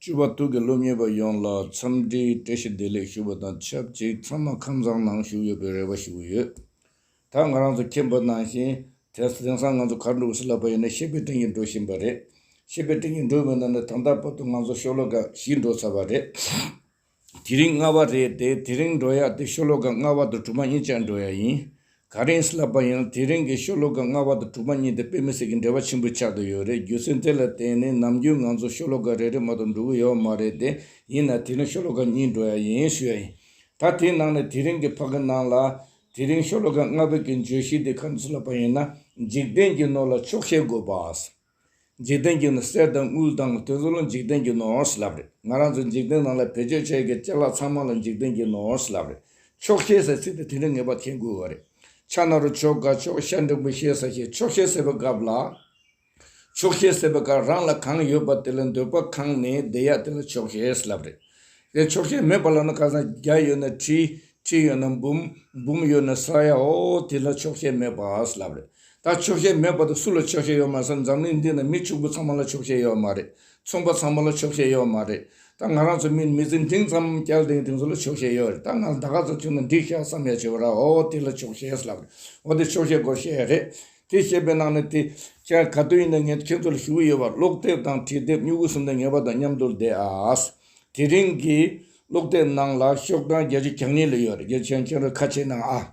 སྤྱི་བ་དུག་གི་སློབ་གཉེར་པ་ཡོངས་ལ་འཚམས་འདྲིའི་བཀྲ་ཤིས་བདེ་ལེགས་ཞུ་བ་དང་ཆབས་ཅིག་ཚང་མ་ཁམས་བཟང་ནང་བཞུགས་ཡོད་པའི་རེ་བ་ཞུ་གི་ཡོད། ད་ང་རང་ཚོ་མཁྱེན་པ་ནང་བཞིན་དེང་སང་ང་ཚོ་གར་འགྲོ་གི་སྲིད་ལབ་པ་ཡིན་ན་ཤེས་པའི་སྟེང་གི་འགྲོ་བཞིན་པ་རེད། ཤེས་པའི་སྟེང་གི་འགྲོ་མི་ནང་ནས་ད་ལྟ་བར་དུ་ང་ཚོ་ཤོག་ལོ་འགའ་ཞིག་འགྲོ་ཚར་བ་རེད། དེ་རིང་སྔ་བ་རེད་དེ་དེ་རིང་འགྲོ་ཡག་དེ་ཤོ་ལོ་ཀ་སྔ་བ་དང་དྲུག་པ་གཉིས་བཅས་འགྲོ་ཡག་ཡིན། ག་རེ་ཡིན་ལབ་པ་ཡིན་ལ་དེ་རིང་གི་ཤོ་ལོ་ཀ་སྔ་བ་དང་དྲུག་པ་གཉིས་དེ་དཔེ་མི་སྲིད་ཀྱི་འབྲེལ་བ་ཆེན་པོ་ཆགས་ཏུ་ཡོད་རེད་རྒྱུ་མཚན་དེ་ལ་བརྟེན་ནས་ནམ་རྒྱུན་ང་ཚོ་ཤོ་ལོ་ཀ་རེ་རེ་མ་གཏོགས་འགྲོ་གི་ཡོད་མ་རེད་དེ་ཡིན་ན་དེ་རིང་ཤོ་ལོ་ཀ་གཉིས་འགྲོ་ཡག་ཡིན་ཞུ་ཡག་ཡིན། ད་དེའི་ནང་ནས་དེ་རིང་གི་ཕ་གི་ནང་ལ། དེ་རིང་ཤོ་ལོ་ཀ་སྔ་བའི་གི་བརྗོད་གཞི་དེ་ག་འདྲ་ཞིག་ལབ་པ་ཡིན་ན་འཇིག་རྟེན་གྱི་ནོར་ལ་ཆོག་ཤེས་དགོས་པ། འཇིག་རྟེན་གྱི་ནི་གསེར་དང་དངུལ་དང་དུད་འགྲོ་ལ་འཇིག་རྟེན་གྱི་ནོར་ཞེས་ལབ་རེད་ང་རང་ཚོའི་འཇིག་རྟེན་ནང་ལ་བེད་སྤྱོད་བྱེད་མཁན་སྤྱི་ལག་ཚང་མ་ལ་འཇིག་རྟེན་གྱི་ནོར་ཞེས་ལབ་རེད་ཆོག་ཤེས་ཟེར་ཚིག་དེ་དེ་འདྲའི་ངེས་པ་ཐེག་དགོས་བ་རེད་ཕྱག་ན་རུ་ཆོ་ག་ཆོག་ཤ་འབྲིང་པོ་ཤེས་ས་ཞིག་ཆོག་ཤེས་ཟེར་བའི་སྐབས་ལ། ཆོག་ཤེས་ཟེར་བའི་སྐབས་རང་ལ་གང་ཡོད་པ་དེ་ལ་འདོད་པ་གང་ནས་བདེ་ཡག་དེ་ལ་ཆོག་ཤེས་ཞེས་ལབ་རེད་དེ་ཆོག་ཤེས་མེད་པ་ལ་ནི་ཁ་སང་བརྒྱ་ཡོད་ན་ཁྲི་ཁྲི་ཡོད་ན་འབུམ་འབུམ་ཡོད་ན་ས་ཡ་ཧོ་ཧོ་དེ་ལ་ཆོག་ཤེས་མེད་པ་ཞེས་ལབ་རེད་ད་ཆོག་ཤེས་མེད་པ་དེ་སུ་ལ་ཆོག་ཤེས་ཡོད་མ་ཟེར་འཛམ་གླིང་འདི་ན་མི་ཕྱུག་པོ་ཚང་མ་ལ་ཆོག་ཤེས་ཡོད་མ་རེད་ཚོང་པ་ཚང་མ་ལ་ཆོག་ཤེས་ཡོད་མ་རེད་ད་ང་རང་ཚོ་མི་མི་ཚེ་འདིང་ཙམ་སྐྱལ་འདིང་འདིང་ཚོ་ལ་ཆོག་ཤེས་ཡོད་རེད་ད་ང་ལ་ད་ག་ཚོད་ཐུག་ན་འགྲིག་ཤག་བསམ་ཡ་བྱེད་པ་ར་ཨོ་དེ་ལ་ཆོག་ཤེས་ལབ་རེད་འོ་དེ་ཆོག་ཤེས་དགོས་ཤེས་རེད་དེ་བཤད་པའི་ནང་ནས་དེ་ཁྱེད་ག་དུས་ཡིན་ན་ངས་ཁྱེད་ཚོ་ལ་ཞུ་གི་ཡོད་པ་ཀློག་དེབ་དང་བྲིས་དེབ་སྨྱུ་གུ་གསུམ་དང་ངེས་པ་དང་མཉམ་དུ་བསྡད་ཨ་དེ་རིང་གི་ཀློག་དེབ་ནང་ལ་ཤོག་གྲངས་བརྒྱད་ཅུ་གྱ་གཉིས་ལ་ཡོད་རེད་རྒྱལ་ཆེན་ཁྱེད་རང་ཁ་ཕྱེ་གནང་ཨ།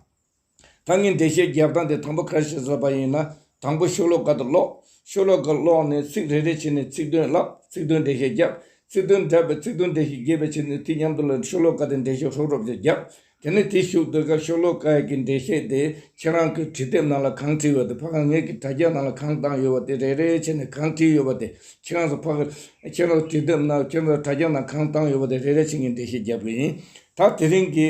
ད་ངས་འགྲེལ་བཤད་རྒྱག་སྟངས་དེ་དང་པོ་གར་བྱེད་ཟེར་བ་ཡིན་ན་དང་པོ་ཤོ་ལོ་ཀ་དུ་ཀློག། ཤོ་ལོ་ཀ་ཀློག་ནས་ཚིག་རེ་རེ་བྱས་ནས་ཚིག་དོན་བཀླག་ཚིག་དོན་འགྲེལ་བཤད་རྒྱག། ཚིག་དོན་འདྲ་བས་ཚིག་དོན་འགྲེལ་བཤད་རྒྱས་པའི་ཕྱིར་ནས་དུས་མཉམ་དུ་ལ་ཤོ་ལོ་ཀ་དེ་འགྲེལ་བཤད་ཧྲོབ་ཧྲོབ་ཅིག་རྒྱག། དེ་ནས་དེ་ཞུགས་སྡོད་སྐབས་ཤོ་ལོ་ཀ་ཡི་གི་འགྲེལ་བཤད་དེ་ཁྱེད་རང་གི་བྲིས་དེབ་ནང་ལ་གང་བྲིས་ཡོད་དེ་ཕ་ག་ངས་ཀྱི་དྲ་རྒྱ་ནང་ལ་གང་བཏང་ཡོད་བ་དེ་རེ་རེ་བྱས་ནས་གང་བྲིས་ཡོད་བ་དེ་ཁྱེད་རང་ཚོ་ཕ་ག་ཁྱེད་རང་ཚོ་བྲིས་དེབ་ནང་ཁྱེད་རང་ཚོ་དྲ་རྒྱ་ནང་གང་བཏང་ཡོད་བ་དེ་རེ་རེ་བྱས་ངས་འགྲེལ་བཤད་རྒྱག་དགོས་ཡིན། ད་དེ་རིང་གི།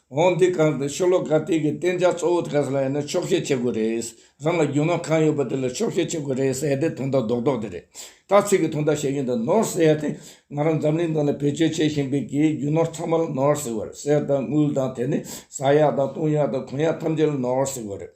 འོང་དུས་གང་དུ་ཤོ་ལོ་ཀ་དེ་གའི་བསྟན་བྱ་གཙོ་བོ་ག་ས་ལ་ཡོད་ན་ཕྱོགས་བཤད་བྱེད་དགོས་རེད། རང་ལ་རྒྱུ་ནོར་གང་ཡོད་པ་དེ་ལ་ཕྱོགས་བཤད་བྱེད་དགོས་རེད་ཟེར་ཡ་དེ་ཐུང་ཐག་རྡོག་རྡོག་དེ་རེད། དག་ཚིག་གི་ཐུང་ཐག་བཤད་ཀྱིན་འདུག་ནོར་ཟེར་ཡ་དེ་ང་རང་འཛམ་གླིང་སྟེང་ལ་བེད་སྤྱོད་བྱེད་བཞིན་པའི་གའི་རྒྱུ་ནོར་ཚང་མ་ལ་ནོར་ཟེར་བ་རེད་གསེར་དང་དངུལ་དང་དེ་ནས་བཟའ་ཡག་དང་བཏུང་ཡག་དང་གོན་ཡག་ཐམས་ཅད་ལ་ནོར་ཟེར་བ་རེད།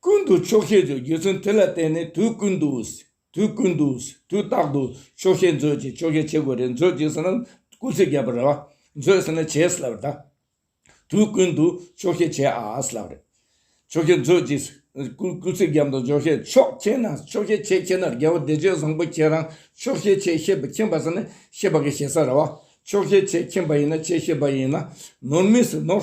ཀུན་ཏུ་ཆོག་ཤེས་མཛོད་རྒྱུ་མཚན་དེ་ལ་བརྟེན་ནས་དུས་ཀུན་ཏུ། དུས་ཀུན་ཏུ། དུས་རྟག་ཏུ། ཆོག་ཤེས་མཛོད་ཅེས་ཆོག་ཤེས་བྱེད་དགོས་རེད་མཛོད་ཅེས་ཟེར་ན་སྐུ་ཚེ་བརྒྱད་པར་རེད་བ། མཛོད་ཟེར་ན་བྱས་ཟེར་བ་རེད། དུས་ཀུན་ཏུ་ཆོག་ཤེས་བྱས་ཨ་ཨ་ཟེར་བ་རེད། ཆོག་ཤེས་མཛོད་ཅེས། སྐུ་ཚེ་བརྒྱད་དང་ཆོག་ཤེས་ཆོག་ཁྱེད་ན་ཆོག་ཤེས་བྱས་ཁྱེད་ན་དགེ་བ་བདེ་སྤྱོད་བཟང་པོ་ཁྱེད་རང་ཆོག་ཤེས་བྱས་ཤེས་པ་ཁྱེད་པ་ཟེར་ན་ཤེས་པ་གི་ཞེ་ས་རེད་བ། ཆོག་ཤེས་བྱས་ཁྱེད་པ་ཡིན་ན་བྱས་ཤེས་པ་ཡིན་ན་ནོར་མི་སྲིད་ནོར།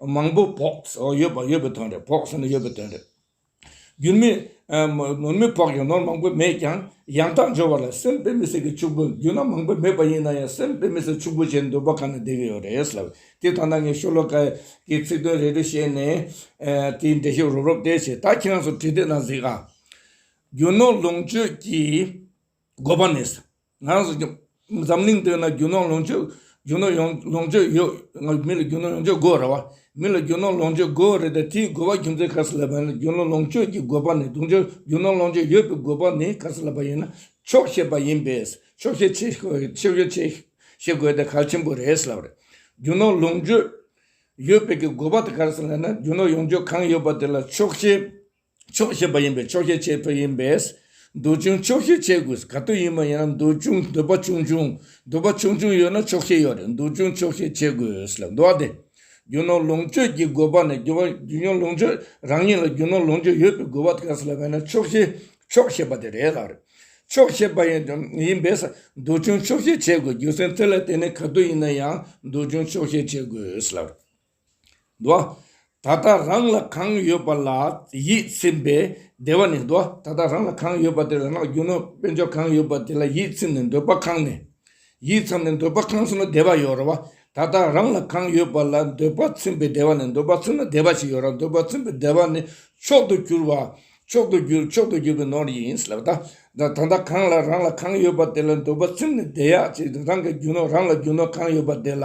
མང་པོ་བོགས་ཟོག་ཡོད་པ་ཡོད་པའི་དོན་རེད་བོགས་ཟོན་ནི་ཡོད་པའི་དོན་རེད། རྒྱུ་མི་ནོར་མི་བོགས་ཀྱང་ནོར་མང་པོ་མེད་ཀྱང་ཡང་དག་འབྱོར་བ་ལ་སེམས་དཔའི་མི་སེར་གྱི་ཕྱུག་པོ་རྒྱུ་ན་མང་པོ་མེད་པ་ཡིན་ན་ཡང་སེམས་དཔའི་མི་སེར་ཕྱུག་པོ་བྱེད་འདོད་པ་གང་ནས་བདེ་གི་ཡོད་རེད་ལབ་དེ་ལྟ་ན་ངས་ཤོ་ལོ་ཀ་གི་ཚིག་དོན་རེ་རེ་བཤད་ནས་དེའི་འགྲེལ་བཤད་རོབ་རོབ་བལྟས་བྱས་ད་ཁྱེད་རང་ཚོ་བྲིས་བལྟས་ན་གཟིགས་ཨ། རྒྱུ་ནོར་ལོངས་སྤྱོད་ཀྱི་དགོས་པ་མེད། ངང་གཟིགས་རྒྱུ། འཛམ་གླིང་སྟེང་ན་རྒྱུ་ནོར་ལོངས་སྤྱོད། རྒྱུ་ནོར་ལོངས་སྤྱོད་ཡོད། མི་ལ་རྒྱུ་ནོར་ལོངས་སྤྱོད་དགོས་རེད་བ། མི་ལ་རྒྱུ་ནོར་ལོངས་སྤྱོད་དགོས་རེད་དེ། དེའི་དགོས་པ་རྒྱུ་མཚན་ག་ས་ལ་བབས་ན་རྒྱུ་ནོར་ལོངས་སྤྱོད་ཀྱི་དགོས་པ་ནི་དུང་ཕྱུར་རྒྱུ་ནོར་ལོངས་སྤྱོད་ཡོད་པའི་དགོས་པ་ནི་ག་ས་ལ་བབས་ཡིན་ན་ཆོག་ཤེས་པ་ཡིན་པས། ཆོག་ཤེས་བྱེད་དགོས་དེ་གལ་ཆེན་པོ་རེད་ཟེར་བ་རེད། རྒྱུ་ནོར་ལོངས་སྤྱོད་ཡོད་པའི་གི་དགོས་པ་དེ་ག་ས་ལ་ཡིན་ན་རྒྱུ་ནོར་ཡོངས་སྤྱོད་གང་ཡོད་པ་དེ་ལ་ཆོག་ཤེས། ཆོག་ཤེས་པ་ཡིན་པས་ཆོག་ཤེས་བྱེད་འདོད་ཡིན་པས། འདོད་ཆུང་ཆོག་ཤེས་བྱེད་དགོས། ག་དུས་ཡིན་མ་ཡིན་ན་འདོད་ཆུང་འདོད་པ་ཆུང་ཆུང་འདོད་པ་ཆུང་ཆུང་ཡོད་ན་ཆོག་ཤེས་ཡོད་རེད་འདོད་ཆུང་ཆོག་ཤེས་བྱེད་དགོས་ལ་འདུག་སྟེ། རྒྱུ་ནོར་ལོངས་སྤྱོད་ཀྱི་དགོས་པ་ནི་རྒྱུ་ནོར་ལོངས་སྤྱོད་རང་ཉིད་ལ་རྒྱུ་ནོར་ལོངས་སྤྱོད་ཡོད་པའི་དགོས་པ་དགའ་ས་ལ་བས་ན་ཆོག་ཤེས་ཆོག་ཤེས་པ་དེ་རེད་ལ། ཆོག་ཤེས་པ་ཡིན་པས་འདོད་ཆུང་ཆོག་ཤེས་བྱེད་དགོས་རྒྱུ་མཚན་དེ་ལ་བརྟེན་ནས་ག་དུས་ཡིན་ན་ཡང་འདོད་ཆུང་ཆོག་ཤེས་བྱེད་དགོས་ལ། འདུལ་བ། ད་ལྟ་རང་ལ་གང་ཡོད་པ་ལ་ཡིད་ཚིམ་པས་བདེ་བ་ནི། འདུལ་བ། ད་ལྟ་རང་ལ་གང་ཡོད་པ་དེ་ལ་སྔགས་རྒྱུ་ནོ། དཔལ་འབྱོར་གང་ཡོད་པ་དེ་ལ་ཡིད་ཚིམ་ནས་འདོད་པ་ཁང་ནས། ཡིད་ཚིམ་ནས་འདོད་པ་ཁང་ཚིམ་ན་བདེ་བ་ཡོད། རོལ་བ། ད་ལྟ་རང་ལ་གང་ཡོད་པ་ལ་འདོད་པ་ཚིམ་པས་བདེ་བ་ནི། འདོད་པ་ཚིམ་ན་བདེ་བ་ཞིག་ཡོད། འདོད་པ་ཚིམ་པའི་བདེ་བ་ནི་མཆོག་ཏུ་གྱུར་པ། མཆོག་ཏུ་གྱུར་མཆོག་ཏུ་གྱུར་པའི་ནོར་ཡིན། ལ་བཟླ། ད་ལྟ་གང་ལ་རང་ལ་གང་ཡོད་པ་དེ་ལ་འདོད་པ་ཚིམ་ནས་བདེ་ཡག་ཅིག་རང་གིས་རྒྱུ་ནོ། རང་ལ་རྒྱུ་ནོ་གང་ཡོད་པ་དེ་ལ།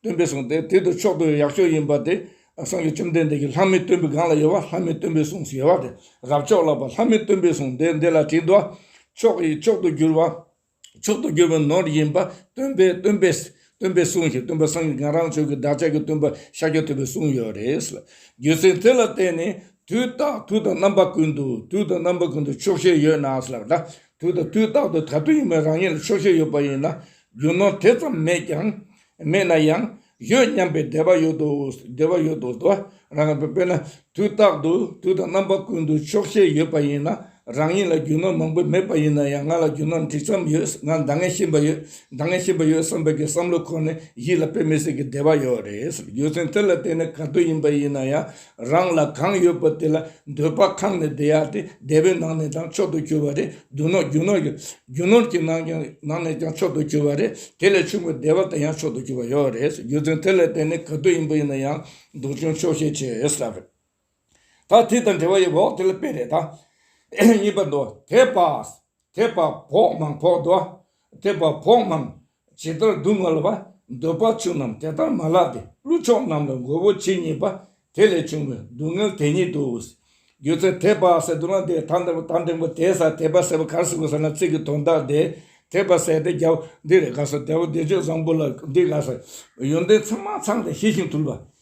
སྟོན་པས་གསུངས་ཏེ་དེ་དུ་མཆོག་ཏུ་ཡག་ཤོས་ཡིན་པ་དེ་གསུངས་ཀྱི་བཅོམ་ལྡན་འདས་ཀྱིས་ལྷ་མི་སྟོན་པའི་སྒང་ལ་ཡོད་པ་ལྷ་མི་སྟོན་པས་གསུངས་ཞེས་པ་དེ་རབ་མཆོག་ལགས་པ་ལྷ་མི་སྟོན་པས་གསུངས་ཏེ་འདི་ལ་དྲིས་དོ། མཆོག་གིས་མཆོག་ཏུ་གྱུར་པ། མཆོག་ཏུ་གྱུར་པའི་ནོར་ཡིན་པ་སྟོན་པས་སྟོན་པས་སྟོན་པས་གསུངས་ཞེས་སྟོན་པ་སངས་རྒྱས་གང་རང་ཆོས་ཀྱི་བདག་ཅག་གིས་སྟོན་པ་ཤཱཀྱ་ཐུབ་པས་གསུངས་ཡོད་རེད། རྒྱུ་མཚན་དེ་ལ་བརྟེན་ནས་དུས་རྟག་དུས་དང་རྣམ་པ་ཀུན་ཏུ་དུས་དང་རྣམ་པ་ཀུན་ཏུ་ཆོག་ཤེས་ཡོད་ན། དུས་དང་དུས་རྟག་ཏུ་ད་དུས་ཡིན་པའི་རང་ཉིད་ལ་ཆོག་ཤེས་ཡོད་པ་ཡིན་ན། རྒྱུ་ནོར་དེ་ཙམ་མེད་ཀྱང་མེད་ན་ཡང་ཡོད་སྙམ་པའི་བདེ་བ་ཡོད་དོ་བདེ་བ་ཡོད་དོ་དོ། རང་གི་དཔེར་ན་དུས་རྟག་ཏུ་དུས་དང་རྣམ་པ་ཀུན་ཏུ་ཆོག་ཤེས་ཡོད་པ་ཡིན་ན་རང་ཉིད་ལ་རྒྱུ་ནོར་མང་པོ་མེད་པ་ཡིན་ན་ཡང་ང་ལ་རྒྱུ་ནོར་འགྲིག་མཚམས་ཡོད་ང་མདང་ངེས་ཤེས་པ་ཡོད་མདང་ངེས་ཤེས་པ་ཡོད་བསམ་པའི་གི་བསམ་བློ་ཁོ་ནས་ཡིད་ལ་དཔེ་མི་སྲིད་ཀྱི་བདེ་བ་ཡོད་རེད་ཡོད་ཚེ་དེ་ལ་བརྟེན་ནས་ག་དུས་ཡིན་པ་ཡིན་ན་ཡང་རང་ལ་གང་ཡོད་པ་དེ་ལ་འདོད་པ་ཁང་ནས་བདེ་ཡག་དེ་བདེ་བོའི་ནང་ནས་ཀྱང་མཆོག་ཏུ་གྱུར་བ་རེད་འདུག་ནོར་རྒྱུ་ནོར་རྒྱུ་ནོར་གྱི་ནང་ཀྱང་ནང་ནས་ཀྱང་མཆོག་ཏུ་གྱུར་བ་རེད་དེ་ལས་ཆུང་བའི་བདེ་བ་དེ་ཡང་མཆོག་ཏུ་གྱུར་བ་ཡོད་རེད་རྒྱུ་མཚན་དེ་ལས་བརྟེན་ནས་ག་དུས་ཡིན་པ་ཡིན་ན་ཡང་སྡུག་ཅུང་ཆོག་ཤེས་བྱས་ཡོད་ས་རེད། ད་དེ་དང་འབྲེལ་བ་ཡོད་བོགས་དེ་ལ་དཔེ་རེད་ད། གཉིས་པ་འདུག་དེ་བགས་དེ་བགས་བོགས་མང་བོགས་འདུག་དེ་བགས་བོགས་མང། ཇི་ལྟར་སྡུག་བསྔལ་བ་འདོད་པ་ཆུང་རྣམས་དེ་ལྟར་མ་ལགས་ཏེ་ཀླུ་མཆོག་རྣམས་ལ་མགོ་བོ་ཇི་སྙེད་པ་དེ་ལས་བྱུང་བའི་སྡུག་བསྔལ་དེ་ཉིད་དུ། སྒྱུ་རྩལ་ཐེག་པ་ཟད་དུ་ན་དེ་ཐང་དང་པོ་ཐང་དང་པོ་དེ་སར་ཐེག་པ་ཟད་པ་གར་སོང་གི་ས་ན་ཚིག་གི་དོན་དག་དེ་ཐེག་པ་ཟད་དེ་རྒྱལ་པོ་འདི་རེ་དགའ་སོ་དེ་བ་འདི་ཆོས་བཟང་པོ་ལ་འདི་དགའ་སོ། ཡོན་ཏན་ཚང་མ་ཚང་སྟེ་ཤེས་ཤིང་ཐུལ་བ་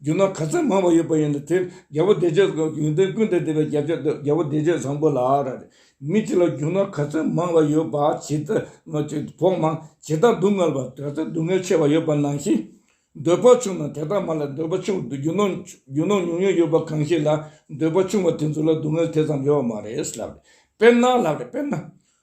རྒྱུ་ནོར་ག་ཚད་མང་བ་ཡོད་པ་ཡིན་ན་དེ་རྒྱལ་པོ་བདེ་སྤྱོད་ཀྱི་ཡོན་ཏན་ཀུན་དུ་བདེ་བའི་རྒྱབ་ཆོས་དུ་རྒྱལ་པོ་བདེ་སྤྱོད་བཟང་པོ་ལགས། རེད་དེ། མི་དེ་ལ་རྒྱུ་ནོར་ག་ཚད་མང་བ་ཡོད་པ་ཇི་ལྟར་བོགས་མང་ཇི་ལྟར་སྡུག་བསྔལ་བ་དེ་ལྟར་སྡུག་བསྔལ་ཆེ་བ་ཡོད་པ་ནང་བཞིན། འདོད་པ་ཆུང་ན་དེ་དག་མ་ལ་འདོད་པ་ཆུང་དུ་རྒྱུ་ནོར་རྒྱུ་ནོར་ཉུང་ཉུང་ཡོད་པ་གང་ཞིག་ལ་འདོད་པ་ཆུང་བ་དེ་ཚོ་ལ་སྡུག་བསྔལ་དེ་ཙམ་ཡོད་མ་རེད་ལགས། དཔེར་ན་ལགས། དཔེར་ན།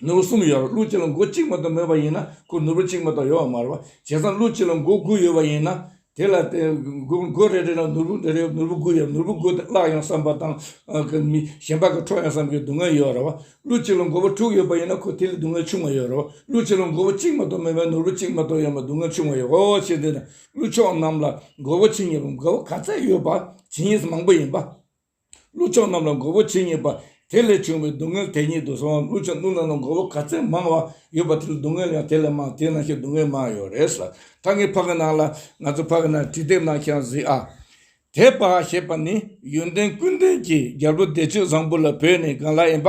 ནོར་བུ་གསུམ་ཡོད་པར་ཀླུ་གཅིག་ལ་མགོ་གཅིག་མ་གཏོགས་མེད་པ་ཡིན་ན་ཁོ་ནོར་བུ་གཅིག་མ་གཏོགས་ཡོད་པ་མ་རེད་བ། བྱས་ཙང་ཀླུ་གཅིག་ལ་མགོ་དགུ་ཡོད་པ་ཡིན་ན། དེ་ལ་མགོ་རེ་རེ་ལ་ནོར་བུ་རེ་རེ་ནོར་བུ་དགུ་ཡོད་པ་ནོར་བུ་དགུ་དེ་བརླག་ཡོང་བསམ་པ་དང། གཞན་པ་གི་འཕྲོག་ཡོང་བསམ་གྱི་སྡུག་བསྔལ་ཡོད་རེད་བ། ཀླུ་གཅིག་ལ་མགོ་བོ་དྲུག་ཡོད་པ་ཡིན་ན་ཁོ་དེ་ལས་སྡུག་བསྔལ་ཆུང་བ་ཡོད་རེད་བ། ཀླུ་གཅིག་ལ་མགོ་བོ་གཅིག་མ་གཏོགས་མེད་པའི་ནོར་བུ་གཅིག་མ་གཏོགས་ཡོད་པ་སྡུག་བསྔལ་ཆུང་བ་ཡོད་རེད་བ། ཞེས་འདོད་ན་ཀླུ་མཆོག་རྣམས་ལ་མགོ་བོ་ཇི་སྙེད་པ་མགོ་བོ་ག་ཚད་ཡོད་པ་ཇི་སྙེད་མང་པོ་ཡིན་པ། ཀླུ་ཆང་རྣམས་ལ་མགོ་བོ་ཇི་སྙེད་པ། དེ་ལས་བྱུང་བའི་སྡུག་བསྔལ་དེ་ཉིད་དུ་སོང་བ་ཀླུ་ཆང་བླུད་རྣམས་ལ་མགོ་བོ་ག་ཚད་མང་བ་ཡོད་པ་དེ་ལ་སྡུག་བསྔལ་ཡང་དེ་ལས་མང་དེས་ན་ཤི་སྡུག་བསྔལ་མང་ཡོད་རེད་ས་ད་ངའི་ཕ་གི་ནང་ལ་ང་ཚོ་ཕ་གི་ནང་དྲི་དེབ་ནང་ཤང་གཟིགས་ཨ། དེ་པ་ཞེས་པ་ནི་ཡོན་ཏན་ཀུན་ལྡན་གྱི་རྒྱལ་པོ་བདེ་སྤྱོད་བཟང་པོ་ལ་བོད་ནས་སྒང་ལ་ཡིན་པ་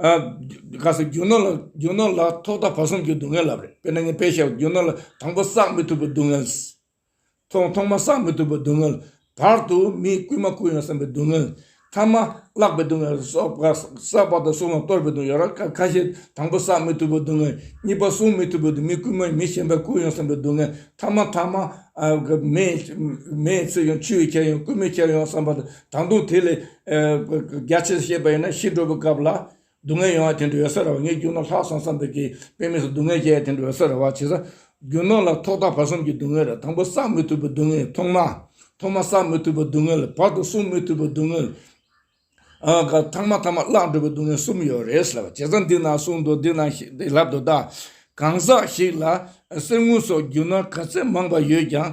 ག་སོང་རྒྱུ་ནོར་ལ་རྒྱུ་ནོར་ལ་ཐོག་མཐའ་བར་གསུམ་གྱི་སྡུག་བསྔལ་ལབ་རེད་དཔེར་ན་ངས་དཔེ་བཤད་པ་རྒྱུ་ནོར་ལ་དང་པོ་བསགས་མི་ཐུབ་པའི་སྡུག་བསྔལ། ཐོག་ཐོག་མ་བསགས་མི་ཐུབ་པའི་སྡུག་བསྔལ། བར་དུ་མིས་རྐུན་མ་རྐུ་ཡོང་བསམ་པའི་སྡུག་བསྔལ། མཐའ་མ་བརླག་པའི་སྡུག་བསྔལ། བསགས་པ་དང་སྲུང་བ་གཏོར་བའི་སྡུག་བསྔལ་ར་ཁ་ཤས་དང་པོ་བསགས་མི་ཐུབ་པའི་སྡུག་བསྔལ། གཉིས་པ་སྲུང་མི་ཐུབ་པའི་མི་རྐུན་མ་མི་གཞན་པས་རྐུ་ཡོང་བསམ་པའི་སྡུག་བསྔལ། མཐའ་མ་མཐའ་མ། མེས་ཚིག་ཡོང་ཆུ་ཡིས་ཁྱེར་ཡོང་རྐུན་མས་ཁྱེར་ཡོང་བསམ་པ་དང་དང་དུང་དེ་ལས། རྒྱ་ཆེར་བཤད་པ་ཡིན་ན་ཤི་འགྲོ་བའི་སྐབས་ལ། སྡུག་བསྔལ་ཡོང་བ་དེ་འདྲ་ཡོད་ས་རེད་བ་ངས་རྒྱུ་ནོར་ལྷག་སོང་བསམ་པའི་གིས་དཔེ་མེད་སུ་སྡུག་བསྔལ་བྱས་དེ་འདྲ་ཡོད་ས་རེད་བ་བྱས་ས། རྒྱུ་ནོར་ལ་ཐོག་ཐག་བར་གསུམ་གྱི་སྡུག་བསྔལ་རེད་དང་པོ་བསགས་མི་ཐུབ་པའི་སྡུག་བསྔལ་ཐོག་མ། ཐོག་མ་བསགས་མི་ཐུབ་པའི་སྡུག་བསྔལ་བར་དུ་སྲུང་མི་ཐུབ་པའི་སྡུག་བསྔལ། ཐང་མ་ཐང་མ་བརླག་འགྲོ་བའི་སྡུག་བསྔལ་གསུམ་ཡོད་རེད་ཟེར་བ་བྱས་ཙང་འདི་ན་གསུངས་འདུག་འདི་ན་ལབ་འདུག་ད། གང་ཟག་ཞིག་ལ་གསེར་དངུལ་སོགས་རྒྱུ་ནོར་ག་ཚད་མང་བ་ཡོད་ཀྱང་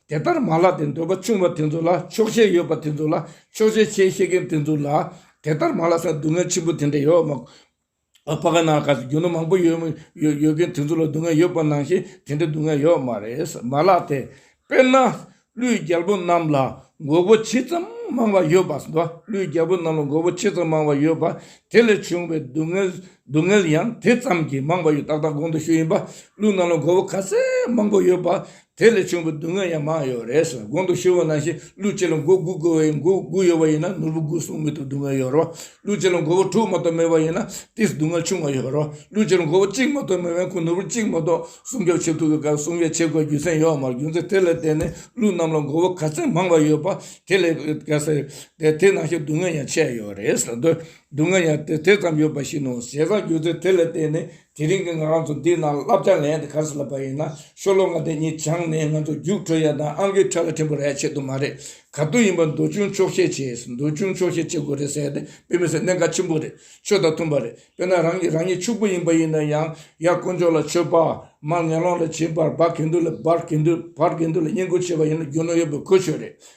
དེ་ལྟར་མ་ལགས་ཏེ་འདོད་པ་ཆུང་བ་དེ་ཚོ་ལ་ཆོག་ཤེས་ཡོད་པ་དེ་ཚོ་ལ་ཆོག་ཤེས་བྱེད་ཤེས་མཁན་དེ་ཚོ་ལ་དེ་ལྟར་མ་ལགས་ས་སྡུག་བསྔལ་ཆེན་པོ་དེ་འདྲ་ཡོད་མ་ཕ་ག་ན་ག་ས་རྒྱུ་ནོར་མང་པོ་ཡོད་མཁན་དེ་ཚོ་ལ་སྡུག་བསྔལ་ཡོད་པ་ནང་བཞིན་དེ་འདྲའི་སྡུག་བསྔལ་ཡོད་མ་རེད་མ་ལགས་ཏེ། དཔེར་ན། ཀླུའི་རྒྱལ་པོ་རྣམས་ལ་མགོ་བོ་ཇི་ཙམ་མང་བ་ཡོད་པ་དང། ཀླུའི་རྒྱལ་པོ་རྣམས་ལ་མགོ་བོ་ཇི་ཙམ་མང་བ་ཡོད་པ་དེ་ལས་བྱུང་བའི་སྡུག་བསྔལ་སྡུག་བསྔལ་ཡང་དེ་ཙམ་གྱིས་མང་བ་ཡོད་ཏག་ཏག་དགོངས་དུ་ཞུ་ཡིན་པ་ཀླུ་རྣམས་ལ་མགོ་བོ་ག་ཚད་མང་པོ་ཡོད་པ་དེ་ལས་བྱུང་བའི་སྡུག་བསྔལ་ཡང་མང་ཡོད་རེད་ཟེར་གོང་དུ་ཤི་བོ་ནང་བཞིན་ཀླུ་གཅིག་ལ་མགོ་དགུ་བཀོལ་བ་ཡིན་མགོ་དགུ་ཡོད་པ་ཡིན་ན་ནོར་བུ་དགུ་སྲུང་མི་ཐུབ་སྡུག་བསྔལ་ཡོད་རོགས་ཀླུ་གཅིག་ལ་མགོ་བོ་དྲུག་མ་གཏོགས་མེད་པ་ཡིན་ན་དེས་སྡུག་བསྔལ་ཆུང་བ་ཡོད་རོགས་ཀླུ་གཅིག་ལ་མགོ་བོ་གཅིག་མ་གཏོགས་མེད་པའི་ཁོང་ནོར་བུ་གཅིག་མ་གཏོགས་སྲུང་སྐྱོབ་བྱེད་ཐུབ་པའི་སྐབས་སྲུང་ཡས་བྱེད་དགོས་རྒྱུ་མཚན་ཡོད་མ་རྒྱུ་མཚན་དེ་ལ་བརྟེན་ནས་ཀླུ་རྣམས་ལ་མགོ་བོ་ག་ཚད་མང་བ་ཡོད་པ་དེ་ལས་ག་ཟེར་དེ་དེ་ནང་བཞིན་སྡུག་བསྔལ་ཡང་ཆད་ཡོད་རེད་ཟེར་དུས་སྡུག་བསྔལ་ཡང་དེ་དེ་ཙམ་ཡོད་པ་ཞིག་ནོར་ཟས་བཟའ་རྒྱུ་མཚན་དེ་ལ་བརྟེན་ནས་དེ་རིང་གི་ང་རང་ཚོ་འདི་ན་བསླབ་བྱ་ལེན་དེ་ག་ས་ལ་བབས་ཡིན་ན་ཤོ་ལོ་ང་དེ་གཉིས་བྱང་ནས་ང་ཚོ་རྒྱུགས་འཕྲོད་ཡ་དང་ཨང་ཀི་ཁྲ་ལ་ཕྲན་བུ་རེ་བྱེད་དུ་མ་རེད་ག་དུས་ཡིན་པ་འདུག་ཅུང་ཆོག་ཤེས་བྱས་ཟེར་འདུག་ཅུང་ཆོག་ཤེས་བྱེད་དགོས་རེད་ཟེར་ཏེ་དཔེ་མི་སེར་གནད་འགག་ཆེན་པོ་རེད་ཆོས་དང་མཐུན་པ་རེད་དཔེར་ན་རང་གིས་རང་ཉིད་ཕྱུག་པོ་ཡིན་པ་ཡིན་ན་ཡང་ཡར་དཀོན་མཆོག་ལ་མཆོད་པ་མར་ངན་སློང་ལ་བྱིན་པར་སྦག་གིན་དུས་ལ་སྦར་གིན་དུས་འཕར་གིན་དུས་ལ་བསྙེན་བཀུར་བྱེད་པ་ཡིན་ན་རྒྱུ་ནོར་ཡོད་པའི་གོ་ཆོད་རེད།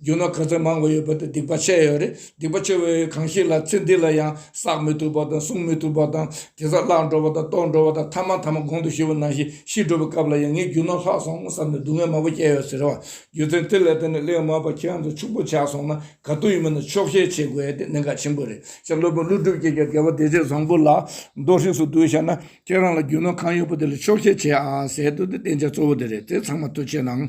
རྒྱུ་ནོར་ག་ཚོད་མང་བོ་ཡོད་པ་དེ་སྡིག་པ་བཤད་ཡོད་རེད་སྡིག་པ་ཆེ་བའི་གང་ཞིག་ལ་ཚེ་འདི་ལ་ཡང་བསགས་མི་ཐུབ་པ་དང་བསྲུང་མི་ཐུབ་པ་དང་དེ་ཚ་བརླག་འགྲོ་བ་དང་རྟོགས་འགྲོ་བ་དང་ཐ་མ་ཐ་མ་གོང་དུ་ཞུས་པ་ནང་བཞིན་ཤི་འགྲོ་བའི་སྐབས་ལ་ཡང་ངས་རྒྱུ་ནོར་ལྷག་སོང་ངོ་བསམ་ནས་སྡུག་བསྔལ་མང་བོ་བསྐྱལ་ཡོད་ཟེར་བ་རྒྱུ་མཚན་དེ་ལས་དེ་ནས་གླེང་མོ་པ་ཁྱེད་རང་ཚོ་ཕྱུག་པོ་ཆགས་སོང་ན་ག་དུས་ཡིན་མིན་ལ་ཆོག་ཤེས་བྱེད་དགོས་དེ་གནད་འགག་ཆེན་པོ་རེད་ཤ་ཀླུ་དཔོན་ཀླུ་སྒྲུབ་ཀྱིས་ཀྱང་དགེ་བ་བདེ་ཆེན་བཟང་པོ་ལ་མདོ་ཧྲིགས་སུ་བསྡུས་བྱས་ན་ཁྱེད་རང་ལ་རྒྱུ་ནོར་གང་ཡོད་པ་དེ་ལ་ཆོག་ཤེས་བྱེད་ཨ་ཟེར་དུས་དེ་བསྟན་བྱ་གཙོ་བོ་དེ་རེད་དེ་ཚང་མ་ཐུགས་ཆེ་གནང།